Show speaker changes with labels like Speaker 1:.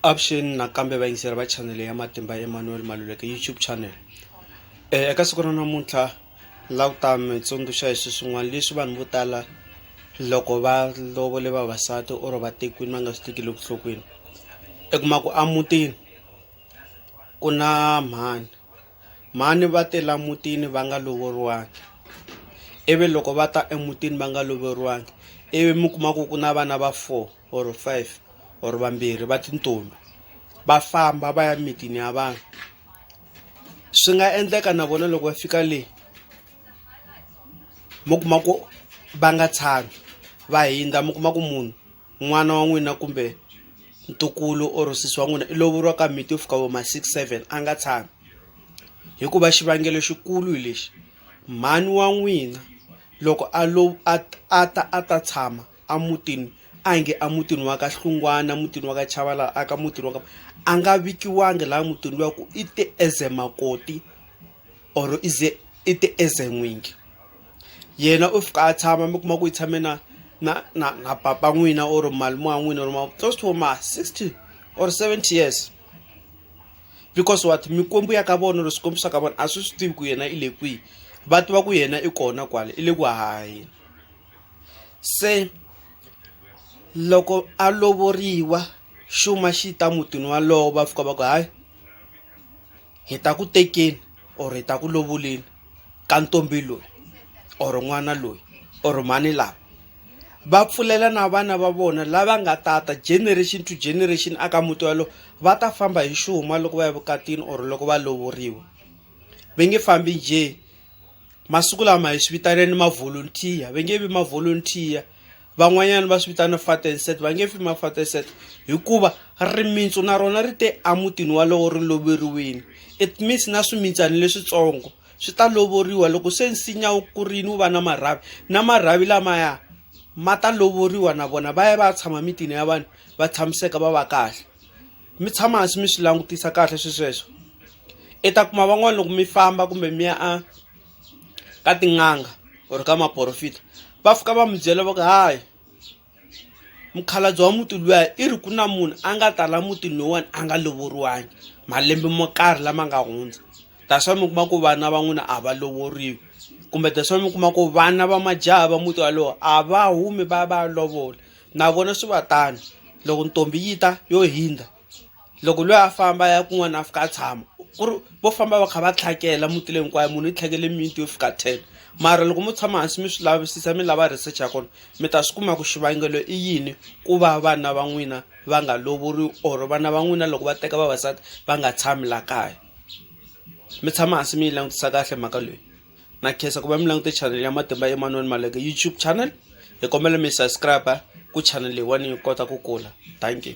Speaker 1: Avuxeni nakambe vayingiseri va chanele ya Matimba Emmanuel Maluleke YouTube channel eka siku ra namuntlha la ku ta mi tsundzuxa hi swilo swin'wana leswi vanhu vo tala loko va lovole vavasati or va tekiwini va nga swi tekeli vuhlokweni i kuma ku emutini ku na mhani mhani va tela mutini va nga lovoriwangi ivi loko va ta emutini va nga loveriwangi ivi mi kuma ku ku na vana va four. or five or vambirhi va tintombi va famba va ya mitini ya vanhu swi nga endleka na vona loko va fika le mi kuma ku va nga tshami va hindza mi kuma ku munhu n'wana wa n'wina kumbe ntukulu or sisi wa n'wina i lovoriwa ka miti yo fika vo ma six seven a nga tshami hikuva xivangelo xikulu hi lexi mhani wa n'wina loko a lo a a ta a ta tshama a mutini a hi nge a mutini wa ka Hlungwana mutini wa ka Chavala a ka mutini wa ka a nga vikiwanga laha mutini luwa ku i te as a makoti or i ze i te as a n'wingi yena u fika a tshama mi kuma ku yi tshame na na na na papa n'wina or malume wa n'wina or ma close to ma sixty or seventy years because what mikwembu ya ka vona or swikwembu swa ka vona a swi swi tivi ku yena i le kwihi va tiva ku yena i kona kwale i le ku haheni. se loko a lovoriwa xuma xi ta mutini wa lowo va fika va ku hayi hi ta ku tekeni or hi ta ku lovoleni ka ntombi loyi or n'wana loyi or mhani lava va pfulela na vana va vona lava nga tata generation to generation aka muti walowo va ta famba hi xuma loko va ya vukatini or loko va lovoriwa va nge fambi njhe. masiku lama hi swi vitaneni mavolontiya va nge vi mavolontiya van'wanyana va swi vitana fat and set va nge fi mafat and set hikuva rimitsu na rona ri te emutini walowo ri loveriwini it means na swimintsani leswitsongo swi ta lovoriwa loko se nsinya wu kurini wu va na marhavi na marhavi lamaya ma ta lovoriwa na vona va ya va ya tshama mitini ya vanhu va tshamiseka va va kahle. mi tshama hansi mi swi langutisa kahle swi sweswo i ta kuma van'wana loko mi famba kumbe mi ya a ka tin'anga or ka maporofita va fika va mi byela va ku hayi mukhalabye wa muti luya i ri ku na munhu a nga tala mutini lowuwani a nga lovoriwangi malembe mo karhi lama nga hundza that's why mi kuma ku vana va n'wina a va lovoriwi kumbe that's why mi kuma ku vana va majaha va muti walowo a va humi va ya va ya lovola. na vona swi va tano loko ntombi yi ta yo hindza loko loyi a famba ya kun'wana a fika a tshama ku ri vo famba va kha va tlhakela muti leyi hinkwayo munhu yi tlhakele miti yo fika ten mara loko mo tshama hansi mi swi lavisisa mi lava research ya kona mi ta swi kuma ku xivangelo i yini ku va vana va n'wina va nga lovoriwi or vana va n'wina loko va teka vavasati va nga tshami la kaya mi tshama hansi mi yi langutisa kahle mhaka leyi. na khensa ku va mi langute channel ya matimba emanuel maleke youtube channel hi kombela mi subscribe ku channel leyiwani yi kota ku kula thank you